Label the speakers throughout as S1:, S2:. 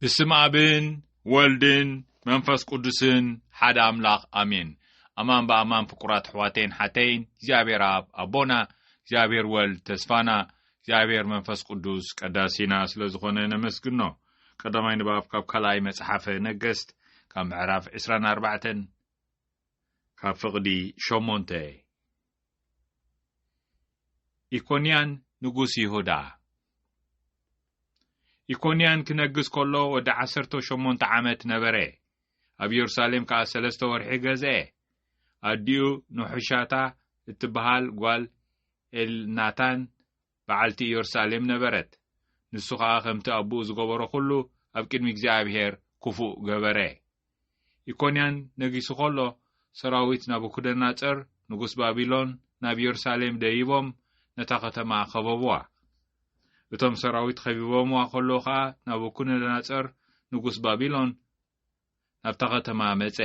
S1: ብስም ኣብን ወልድን መንፈስ ቅዱስን ሓደ ኣምላኽ ኣሜን ኣማን ብኣማን ፍቁራት ኣሕዋተይን ሓተይን እግዚኣብሔር ኣብ ኣቦና እግዚኣብሔር ወልድ ተስፋና እግዚኣብሔር መንፈስ ቅዱስ ቀዳሲና ስለ ዝኾነ ነመስግኖ ቀዳማይ ንባብ ካብ ካልኣይ መጽሓፈ ነገስት ካብ ምዕራፍ 24 ካብ ፍቕዲ ሸሞንተ ኢኮንያን ንጉስ ይሁዳ ኢኮንያን ክነግስ ከሎ ወዲ ዓሰርተ ሸሞንተ ዓመት ነበረ ኣብ የሩሳሌም ከኣ ሰለስተ ወርሒ ገዝአ ኣዲኡ ንሑሻታ እትበሃል ጓል ኤልናታን በዓልቲ ኢዮርሳሌም ነበረት። ንሱ ኸኣ ከምቲ ኣቦኡ ዝገበሮ ዅሉ ኣብ ቅድሚ እግዚኣብሄር ክፉእ ገበረ። ኢኮንያን ነጊሱ ኸሎ፣ ሰራዊት ናቡክደናጸር ንጉስ ባቢሎን ናብ ኢዮርሳሌም ደይቦም ነታ ኸተማ ኸበብዋ። እቶም ሰራዊት ኸቢቦምዋ ኸለዉ ኸኣ ናቡክደናጸር ንጉስ ባቢሎን ናብታ ኸተማ መጸ።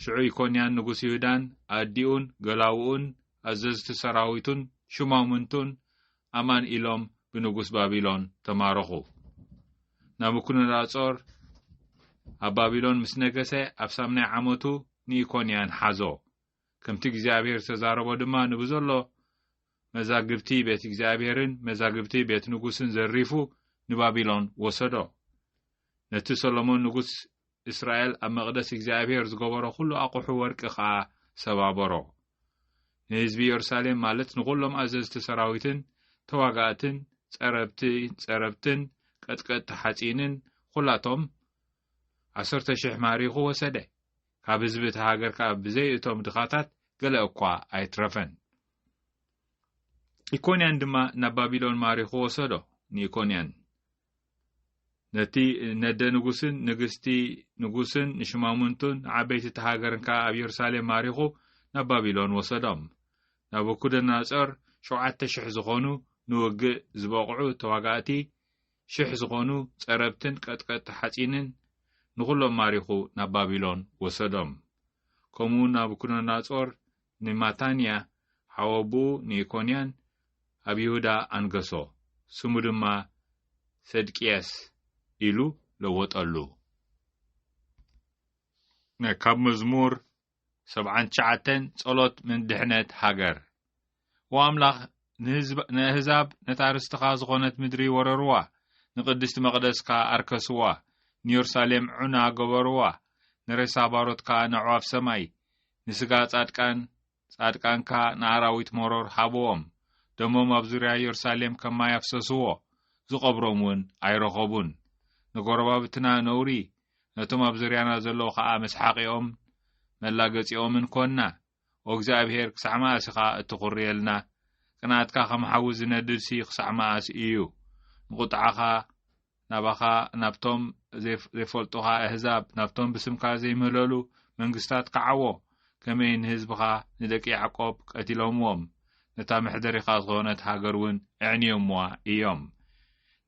S1: ሽዑ ኢኮንያን ንጉስ ይሁዳን ኣዲኡን ገላዉኡን ኣዘዝቲ ሰራዊቱን ሹማምንቱን ኣማን ኢሎም ብንጉስ ባቢሎን ተማረኹ። ናቡኩደነጾር ኣብ ባቢሎን ምስ ነገሰ ኣብ ሳምናይ ዓመቱ ንኢኮንያን ሓዞ። ከምቲ እግዚኣብሔር ዝተዛረቦ ድማ ንብዘሎ መዛግብቲ ቤት እግዚኣብሔርን መዛግብቲ ቤት ንጉስን ዘሪፉ ንባቢሎን ወሰዶ። ነቲ ሰሎሞን ንጉስ እስራኤል ኣብ መቕደስ እግዚኣብሄር ዝገበሮ ዅሉ ኣቝሑ ወርቂ ኸኣ ሰባበሮ። ንህዝቢ የሩሳሌም ማለት ንዅሎም ኣዘዝቲ ሰራዊትን ተዋጋእትን ጸረብቲ ጸረብትን ቀጥቀጥቲ ሓጺንን ዅላቶም ዓሰርተ ሽሕ ማሪኹ ወሰደ። ካብ ህዝቢ እቲ ሃገር ከኣ ብዘይ እቶም ድኻታት ገለ እኳ ኣይትረፈን። ኢኮንያን ድማ ናብ ባቢሎን ማሪኹ ወሰዶ። ንኢኮንያን ነቲ ነደ ንጉስን ንግስቲ ንጉስን ንሽማሙንቱን ንዓበይቲ እቲ ሃገርን ከኣ ኣብ የሩሳሌም ማሪኹ ናብ ባቢሎን ወሰዶም። ናቡኩደነጾር ሸውዓተ ሽሕ ዝኾኑ ንውግእ ዝበቕዑ ተዋጋእቲ፣ ሽሕ ዝኾኑ ጸረብትን ቀጥቀጥቲ ሓጺንን ንኹሎም ማሪኹ ናብ ባቢሎን ወሰዶም። ከምኡውን ናቡኩደነጾር ንማታንያ ሓወብኡ ንኢኮንያን ኣብ ይሁዳ ኣንገሶ፣ ስሙ ድማ ሰድቅያስ ኢሉ ለወጠሉ። ን ካብ መዝሙር ሰብዓን ትሽዓተን ጸሎት ን ድሕነት ሃገር። ኦ ኣምላኽ ንኣህዛብ ነታ ርስትኻ ዝኾነት ምድሪ ወረርዋ፣ ንቅድስቲ መቕደስካ ኣርከስዋ፣ ንዮርሳሌም ዑና ገበርዋ፣ ንሬሳ ባሮትካ ነዕዋፍ ሰማይ፣ ንስጋ ጻድቃን ጻድቃንካ ንኣራዊት መሮር ሃብዎም፣ ደሞም ኣብ ዙርያ የሩሳሌም ከም ማይ ኣፍሰስዎ፣ ዝቐብሮም እውን ኣይረኸቡን። ንጐረባብትና ነውሪ፣ ነቶም ኣብ ዙርያና ዘለዉ ኸኣ መስሓቒኦምን መላገጺኦምን ኰንና። ኦ እግዚኣብሄር፣ ክሳዕ መኣስ ኢኻ እትዅርየልና? ቅንኣትካ ኸም ሓዊ ዚነድድሲ ኽሳዕ መኣስ እዩ? ንቝጥዓኻ ናባኻ ናብቶም ዘይፈልጡኻ ኣህዛብ ናብቶም ብስምካ ዘይምህለሉ መንግስታት ክዓዎ ከመይ ንህዝብኻ ንደቂ ያዕቆብ ቀቲሎምዎም ነታ መሕደሪኻ ዝኾነት ሃገር እውን ኣዕንዮምዋ እዮም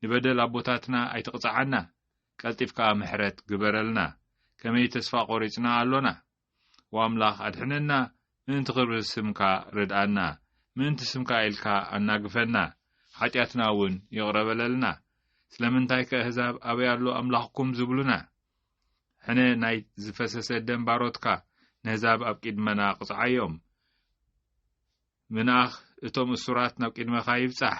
S1: ንበደል ኣቦታትና ኣይትቕጽዓና ቀልጢፍካ ምሕረት ግበረልና ከመይ ተስፋ ቆሪጽና ኣሎና ኦ ኣምላኽ ኣድሕነና ምእንቲ ክብሪ ስምካ ርድኣና ምእንቲ ስምካ ኢልካ ኣናግፈና ሓጢኣትና ውን ይቕረ በለልና ስለምንታይ ከ እህዛብ ኣበይ ኣሎ ኣምላኽኩም ዝብሉና ሕነ ናይ ዝፈሰሰ ደም ባሮትካ ነህዛብ ኣብ ቂድመና ቅጽዓዮም ምንኣኽ እቶም እሱራት ናብ ቂድመኻ ይብጻሕ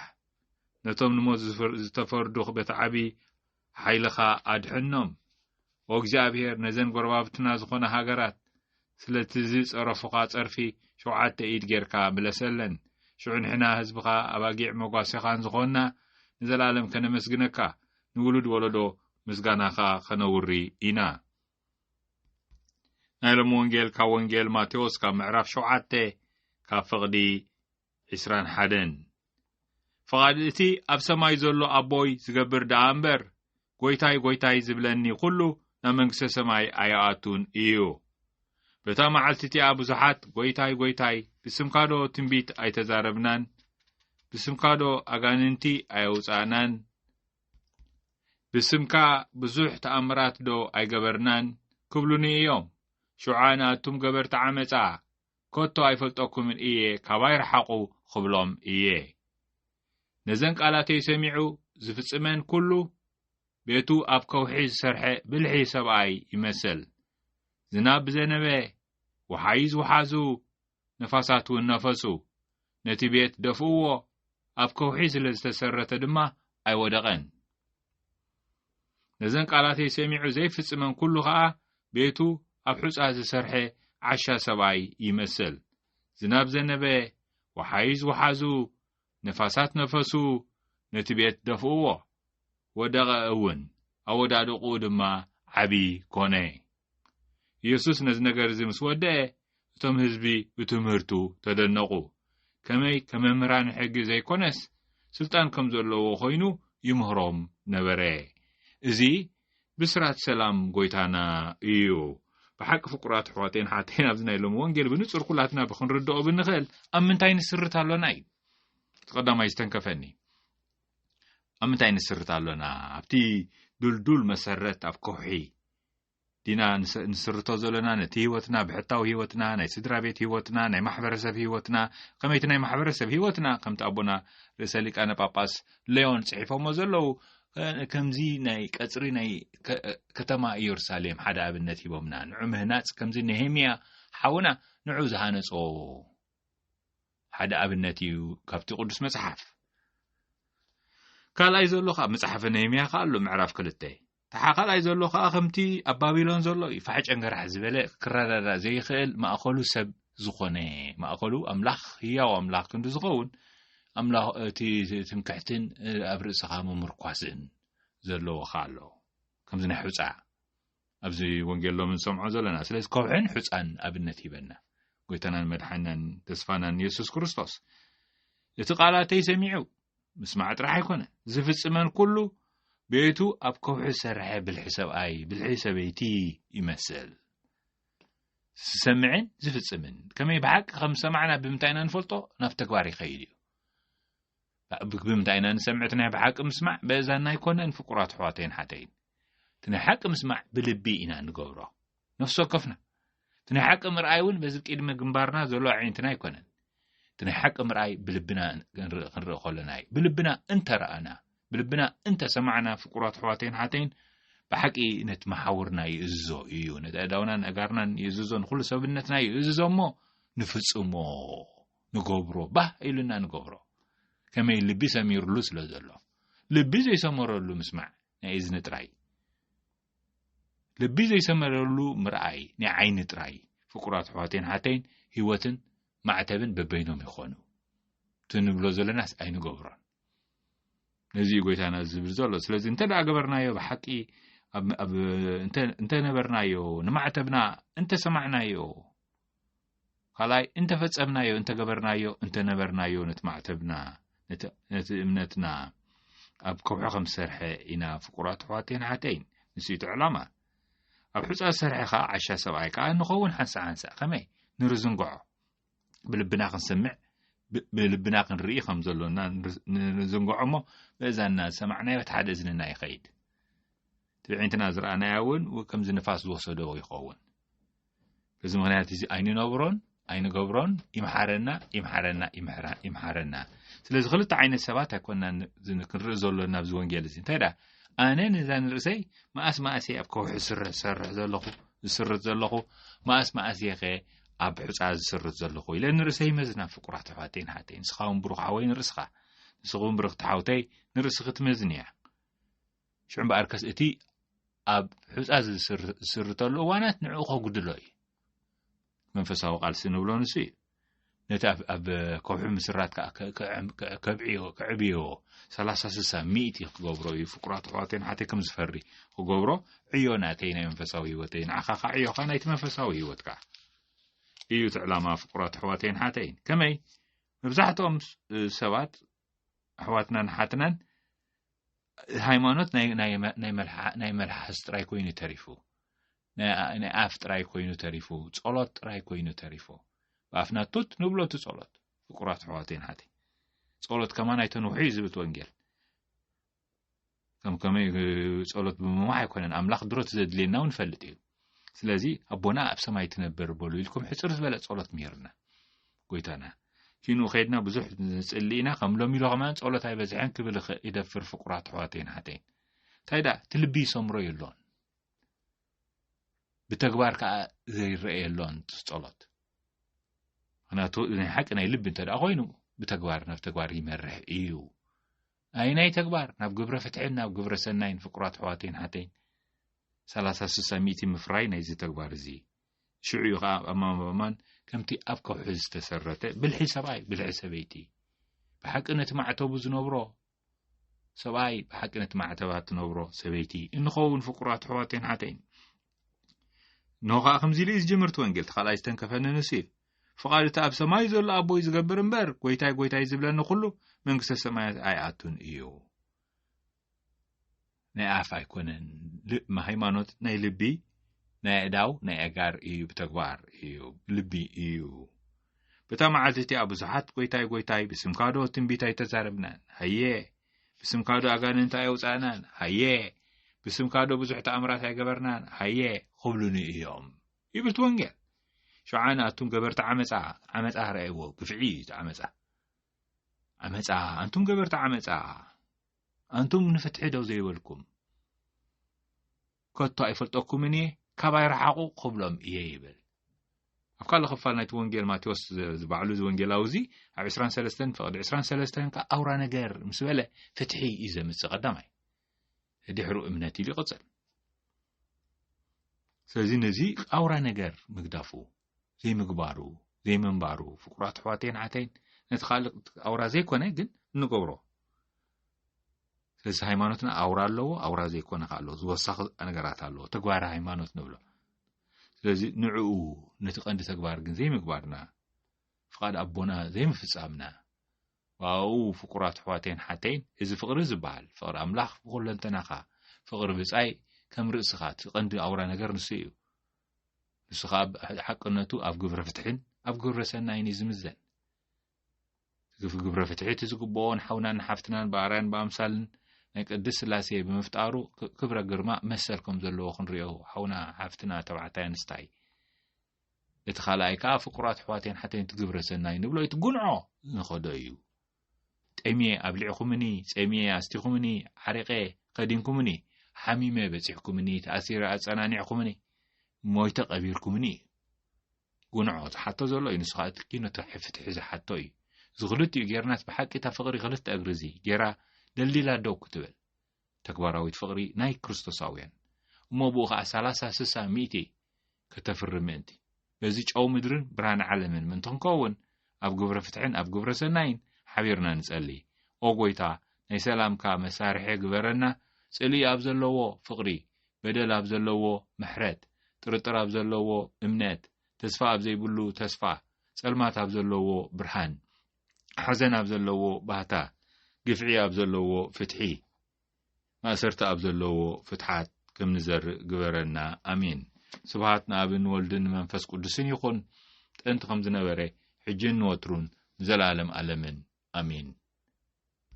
S1: ነቶም ንሞት ዝተፈርዱ በቲ ዓቢ ሓይልኻ ኣድሕኖም ኦ እግዚኣብሄር ነዘን ጎረባብትና ዝኾና ሃገራት ስለቲ ዝጸረፉኻ ጸርፊ ሸውዓተ ኢድ ጌርካ ምለሰለን ሽዑ ንሕና ህዝብኻ ኣባጊዕ መጓሴኻን ዝኾንና ንዘለኣለም ከነመስግነካ ንውሉድ ወለዶ ምስጋናኻ ከነውሪ ኢና ናይ ሎም ወንጌል ካብ ወንጌል ማቴዎስ ካብ ምዕራፍ ሸውዓተ ካብ ፍቕዲ ዕስራን ሓደን ፍቓድ እቲ ኣብ ሰማይ ዘሎ ኣቦይ ዝገብር ደኣ እምበር ጐይታይ ጐይታይ ዝብለኒ ዅሉ ናብ መንግስተ ሰማይ ኣይኣቱን እዩ። በታ መዓልቲ እቲኣ ብዙሓት ጐይታይ ጐይታይ ብስምካዶ ትንቢት ኣይተዛረብናን ብስምካዶ ኣጋንንቲ ኣየውጻእናን ብስምካ ብዙሕ ተኣምራትዶ ኣይገበርናን ክብሉኒ እዮም። ሽዓ ንኣቱም ገበርቲ ዓመጻ ከቶ ኣይፈልጠኩምን እየ ካባይ ርሓቑ ኽብሎም እየ። ነዘን ቃላተይ ሰሚዑ ዝፍጽመን ኩሉ ቤቱ ኣብ ከውሒ ዝሰርሐ ብልሒ ሰብኣይ ይመስል። ዝናብ ብዘነበ፣ ወሓይዝ ወሓዙ፣ ነፋሳት እውን ነፈሱ። ነቲ ቤት ደፍእዎ፣ ኣብ ከውሒ ስለ ዝተሰረተ ድማ ኣይወደቐን። ነዘን ቃላተይ ሰሚዑ ዘይፍጽመን ኩሉ ከኣ ቤቱ ኣብ ሑጻ ዝሰርሐ ዓሻ ሰብኣይ ይመስል። ዝናብ ዘነበ፣ ወሓይዝ ወሓዙ፣ ነፋሳት ነፈሱ፣ ነቲ ቤት ደፍእዎ። ወደቐ እውን፣ ኣወዳድቕኡ ድማ ዓቢ ኮነ። የሱስ ነዚ ነገር እዚ ምስ ወደኤ እቶም ህዝቢ ብትምህርቱ ተደነቑ። ከመይ ከም መምህራን ሕጊ ዘይኮነስ ስልጣን ከም ዘለዎ ኮይኑ ይምህሮም ነበረ። እዚ ብስራት ሰላም ጎይታና እዩ። ብሓቂ ፍቁራት ኣሕዋተይን ሓተይን ኣብዚ ናይ ሎሚ ወንጌል ብንጹር ኩላትና ብክንርድኦ ብንኽእል ኣብ ምንታይ ንስርት ኣሎና እዩ። እቲ ቀዳማይ ዝተንከፈኒ ኣብ ምንታይ ንስርት ኣሎና ኣብቲ ድልዱል መሰረት ኣብ ከውሒ ዲና ንስርቶ ዘሎና ነቲ ህይወትና ብሕታዊ ህይወትና ናይ ስድራ ቤት ህይወትና ናይ ማሕበረሰብ ህይወትና ከመይቲ ናይ ማሕበረሰብ ህይወትና ከምቲ ኣቦና ርእሰ ሊቃነ ጳጳስ ሌዮን ጽሒፎሞ ዘለዉ ከምዚ ናይ ቀፅሪ ናይ ከተማ ኢየሩሳሌም ሓደ ኣብነት ሂቦምና ንዑ ምህናፅ ከምዚ ነሄምያ ሓውና ንዑ ዝሃነጾ ሓደ ኣብነት እዩ ካብቲ ቅዱስ መጽሓፍ ካልኣይ ዘሎ ካብ መጽሓፈ ነሄምያ ከ ኣሎ ምዕራፍ ክልተ ተሓካላይ ዘሎ ከኣ ከምቲ ኣብ ባቢሎን ዘሎ እዩ ፋሕ ጨንገራሕ ዝበለ ክረዳዳእ ዘይኽእል ማእኸሉ ሰብ ዝኾነ ማእኸሉ ኣምላኽ ህያው ኣምላኽ ክንዲ ዝኸውን ኣምላእቲ ትምክሕትን ኣብ ርእስኻ ምምርኳስን ዘለዎ ኸ ኣሎ ከምዚ ናይ ሑፃ ኣብዚ ወንጌል ሎም ንሰምዖ ዘለና ስለዚ ከውሕን ሑፃን ኣብነት ሂበና ጎይታናን መድሓናን ተስፋናን የሱስ ክርስቶስ እቲ ቃላተይ ሰሚዑ ምስማዕ ጥራሕ ኣይኮነ ዝፍጽመን ኩሉ ቤቱ ኣብ ከውሒ ዝሰርሐ ብልሒ ሰብኣይ ብልሒ ሰበይቲ ይመስል ዝሰምዕን ዝፍጽምን ከመይ ብሓቂ ከም ዝሰማዕና ብምንታይ ኢና ንፈልጦ ናብ ተግባር ይኸይድ እዩ ብምንታይ ኢና ንሰምዕ እቲ ናይ ብሓቂ ምስማዕ በእዛና ኣይኮነን ፍቁራት ኣሕዋተይን ሓተይን እቲ ናይ ሓቂ ምስማዕ ብልቢ ኢና ንገብሮ ነፍሲ ወከፍና እቲ ናይ ሓቂ ምርኣይ እውን በዚ ቅድሚ ግንባርና ዘሎ ኣዒንትና ኣይኮነን እቲ ናይ ሓቂ ምርኣይ ብልብና ክንርኢ ከለና እዩ ብልብና እንተረኣና ብልብና እንተሰማዕና ፍቁራት ኣሕዋተይን ሓተይን ብሓቂ ነቲ መሓውርና ይእዝዞ እዩ ነቲ ኣእዳውናን ኣጋርናን ይእዝዞ ንኩሉ ሰብነትና ይእዝዞ እሞ ንፍጽሞ ንገብሮ ባህ ኢሉና ንገብሮ ከመይ ልቢ ሰሚርሉ ስለ ዘሎ ልቢ ዘይሰመረሉ ምስማዕ ናይ እዝኒ ጥራይ ልቢ ዘይሰመረሉ ምርኣይ ናይ ዓይኒ ጥራይ ፍቁራት ኣሕዋተይን ኣሓተይን ህይወትን ማዕተብን በበይኖም ይኾኑ እቲ ንብሎ ዘለናስ ኣይንገብሮን ነዚ እዩ ጎይታና ዝብል ዘሎ ስለዚ እንተ ደኣ ገበርናዮ ብሓቂ እንተነበርናዮ ንማዕተብና እንተሰማዕናዮ ካልኣይ እንተ ፈጸምናዮ እንተ ገበርናዮ እንተ ነበርናዮ ነቲ ማዕተብና ነቲ እምነትና ኣብ ከውሒ ከም ዝሰርሐ ኢና ፍቁራት ኣሕዋተይን ሓተይን ንሱ እቲ ዕላማ ኣብ ሕፃ ዝሰርሐ ከዓ ዓሻ ሰብኣይ ከዓ ንኸውን ሓንሳእ ሓንሳእ ከመይ ንርዝንግዖ ብልብና ክንሰምዕ ብልብና ክንርኢ ከም ዘሎና ንዝንግዖ እሞ ብእዛንና ዝሰማዕናዮ እቲ ሓደ እዝንና ይኸይድ ትብዒንትና ዝረኣናዮ እውን ከምዚ ንፋስ ዝወሰዶ ይኸውን በዚ ምክንያት እዚ ኣይንነብሮን ኣይንገብሮን ይምሓረና ይምሓረና ይምሓረና ስለዚ ክልተ ዓይነት ሰባት ኣይኮና ክንርኢ ዘሎና ኣብዚ ወንጌል እዚ እንታይ ደኣ ኣነ ነዛ ንርእሰይ መኣስ መኣስ እየ ኣብ ከውሒ ስረ ዝሰርሕ ዘለኹ ዝስርት ዘለኹ መኣስ መኣስ እየ ከ ኣብ ሕፃ ዝስርት ዘለኹ ኢለ ንርእሰይ መዝና ፍቁራት ኣሕዋተይ ንሓተይ ንስኻ እውን ብሩኽ ሓወይ ንርእስኻ ንስኹ እውን ብርኽቲ ሓውተይ ንርእስኺ ትመዝን እያ ሽዑ እምበኣርከስ እቲ ኣብ ሑፃ ዝስርተሉ እዋናት ንዕኡ ከጉድሎ እዩ መንፈሳዊ ቃልሲ ንብሎ ንሱ እዩ ነቲ ኣብ ከውሒ ምስራት ከዓ ከብዕዮ ከዕብዮ ሰላሳ ስሳ ሚእቲ ክገብሮ እዩ ፍቁራት ኣሕዋተይ ንሓተይ ከም ዝፈሪ ክገብሮ ዕዮ ናተይ ናይ መንፈሳዊ ህይወተይ ንዓኻ ከዓ ዕዮኻ ናይቲ መንፈሳዊ ህይወት ከዓ እዩ እቲ ዕላማ ፍቁራት ኣሕዋተይን ሓተይን ከመይ መብዛሕትኦም ሰባት ኣሕዋትናን ሓትናን ሃይማኖት ናይ መልሓስ ጥራይ ኮይኑ ተሪፉ ናይ ኣፍ ጥራይ ኮይኑ ተሪፉ ጸሎት ጥራይ ኮይኑ ተሪፉ ብኣፍና ቱት ንብሎ እቲ ጸሎት ፍቁራት ኣሕዋተይን ሓቲ ጸሎት ከማን ኣይተንውሑ እዩ ዝብል ወንጌል ከም ከመይ ጸሎት ብምማዕ ኣይኮነን ኣምላኽ ድሮት ዘድልየና እውን ይፈልጥ እዩ ስለዚ ኣቦና ኣብ ሰማይ ትነብር በሉ ኢልኩም ሕፅር ዝበለ ጸሎት ምሂርና ጎይታና ኪኑ ከድና ብዙሕ ንፅሊ ኢና ከም ሎሚ ኢሎ ከማን ጸሎት ኣይበዝሐን ክብል ይደፍር ፍቁራት ኣሕዋተይን ሓተይን እንታይ ደኣ እቲ ልቢ ይሰምሮ የሎን ብተግባር ከዓ ዘይረአ የሎን ጸሎት ምክንያቱ ናይ ሓቂ ናይ ልቢ እንተ ኮይኑ ብተግባር ናብ ተግባር ይመርሕ እዩ ኣየናይ ተግባር ናብ ግብረ ፍትሕን ናብ ግብረ ሰናይን ፍቁራት ኣሕዋተይን ሓተይን ሰላሳ ስሳ ሚእቲ ምፍራይ ናይዚ ተግባር እዚ ሽዑ እዩ ከዓ ኣማን ብኣማን ከምቲ ኣብ ከውሒ ዝተሰረተ ብልሒ ሰብኣይ ብልሒ ሰበይቲ ብሓቂ ነቲ ማዕተቡ ዝነብሮ ሰብኣይ ብሓቂ ነቲ ማዕተባ ትነብሮ ሰበይቲ እንኸውን ፍቁራት ኣሕዋተይን ሓተይን እነሆ ከኣ ከምዚ ኢሉ እዩ ዝጅምርቲ ወንጌል እቲ ካልኣይ ዝተንከፈኒ ንሱ እዩ ፍቓድ እቲ ኣብ ሰማይ ዘሎ ኣቦይ ዝገብር እምበር ጎይታይ ጎይታይ ዝብለኒ ኩሉ መንግስተ ሰማያት ኣይኣቱን እዩ ናይ ኣፍ ኣይኮነን ሃይማኖት ናይ ልቢ ናይ ኣእዳው ናይ ኣጋር እዩ ብተግባር እዩ ልቢ እዩ በታ መዓልቲ እቲኣ ብዙሓት ጎይታይ ጎይታይ ብስምካዶ ትንቢት ኣይተዛረብናን ሃየ ብስምካዶ ኣጋንንቲ ኣየውጻእናን ሃየ ብስምካዶ ብዙሕ ተኣምራት ኣይገበርናን ሃየ ኹብሉኒ እዮም ይብልቲ ወንጌል ሸዓ ንኣቱም ገበርቲ ዓመፃ ዓመፃ ረኣይዎ ግፍዒ እዩ እቲ ዓመፃ ዓመፃ ኣንቱም ገበርቲ ዓመፃ ኣንቱም ንፍትሒ ደው ዘይበልኩም ከቶ ኣይፈልጠኩምን እየ፣ ካባይ ረሓቑ ክብሎም እየ ይብል። ኣብ ካልእ ክፋል ናይቲ ወንጌል ማቴዎስ ዝባዕሉ እዚ ወንጌላዊ እዚ ኣብ 23 ፍቕዲ 23 ከ ኣውራ ነገር ምስ በለ ፍትሒ እዩ ዘምጽእ ቀዳማይ ድሕሩ እምነት ኢሉ ይቕጽል። ስለዚ ነዚ ኣውራ ነገር ምግዳፉ ዘይምግባሩ ዘይምንባሩ ፍቁራት ኣሕዋተይን ኣሓተይን ነቲ ካልእ ኣውራ ዘይኮነ ግን እንገብሮ ስለዚ ሃይማኖትና ኣውራ ኣለዎ ኣውራ ዘይኮነ ከ ኣለዎ ዝወሳኺ ነገራት ኣለዎ ተግባር ሃይማኖት ንብሎ ስለዚ ንዕኡ ነቲ ቀንዲ ተግባር ግን ዘይምግባርና ፍቓድ ኣቦና ዘይምፍጻምና ዋኡ ፍቁራት ኣሕዋተይን ሓተይን እዚ ፍቕሪ ዝበሃል ፍቕሪ ኣምላኽ ብኩለንተናኻ ፍቕሪ ብጻይ ከም ርእስኻ እቲ ቀንዲ ኣውራ ነገር ንሱ እዩ ንሱ ከኣ ሓቅነቱ ኣብ ግብረ ፍትሕን ኣብ ግብረ ሰናይን እዩ ዝምዘን ግፍ ግብረ ፍትሒ እቲ ዝግብኦን ሓውናን ሓፍትናን ብኣርያን ብኣምሳልን ናይ ቅድስ ስላሴ ብምፍጣሩ ክብረ ግርማ መሰል ከም ዘለዎ ክንሪኦ ሓውና ሓፍትና ተባዕታይ ኣንስታይ እቲ ካልኣይ ከዓ ፍቁራት ኣሕዋቴን ሓተንቲ ግብረ ሰናይ ንብሎ እቲ ጉንዖ ንኸዶ እዩ ጠምየ ኣብሊዕኹምኒ፣ ጸምየ ኣስቲኹምኒ፣ ዓሪቐ ኸዲንኩምኒ፣ ሓሚመ በጺሕኩምኒ፣ ተኣሲረ ኣጸናኒዕኹምኒ፣ ሞይተ ቀቢርኩምኒ እዩ። ጉንዖ ዝሓቶ ዘሎ እዩ ንሱ እቲ ኪኖ ፍትሒ ዝሓቶ እዩ ዝክልቲኡ ጌርናስ ብሓቂ እታ ፍቅሪ ክልተ እግሪ እዚ ጌራ ደልዲላ ደው ክትብል ተግባራዊት ፍቕሪ ናይ ክርስቶሳውያን እሞ ብኡ ኸኣ ሰላሳ ስሳ ሚእቲ ከተፍሪ ምእንቲ በዚ ጨው ምድርን ብርሃን ዓለምን ምእንቲ ክንከውን ኣብ ግብረ ፍትሕን ኣብ ግብረ ሰናይን ሓቢርና ንጸሊ ኦ ጎይታ ናይ ሰላምካ መሳርሒ ግበረና ጽልኢ ኣብ ዘለዎ ፍቕሪ በደል ኣብ ዘለዎ ምሕረት ጥርጥር ኣብ ዘለዎ እምነት ተስፋ ኣብ ዘይብሉ ተስፋ ጸልማት ኣብ ዘለዎ ብርሃን ሓዘን ኣብ ዘለዎ ባህታ፣ ግፍዒ ኣብ ዘለዎ ፍትሒ፣ ማእሰርቲ ኣብ ዘለዎ ፍትሓት ከም ንዘርእ ግበረና ኣሜን። ስብሃት ንኣብን ወልድን ንመንፈስ ቅዱስን ይኹን ጥንቲ ከም ዝነበረ ሕጂን ንወትሩን ንዘለኣለም ኣለምን ኣሜን።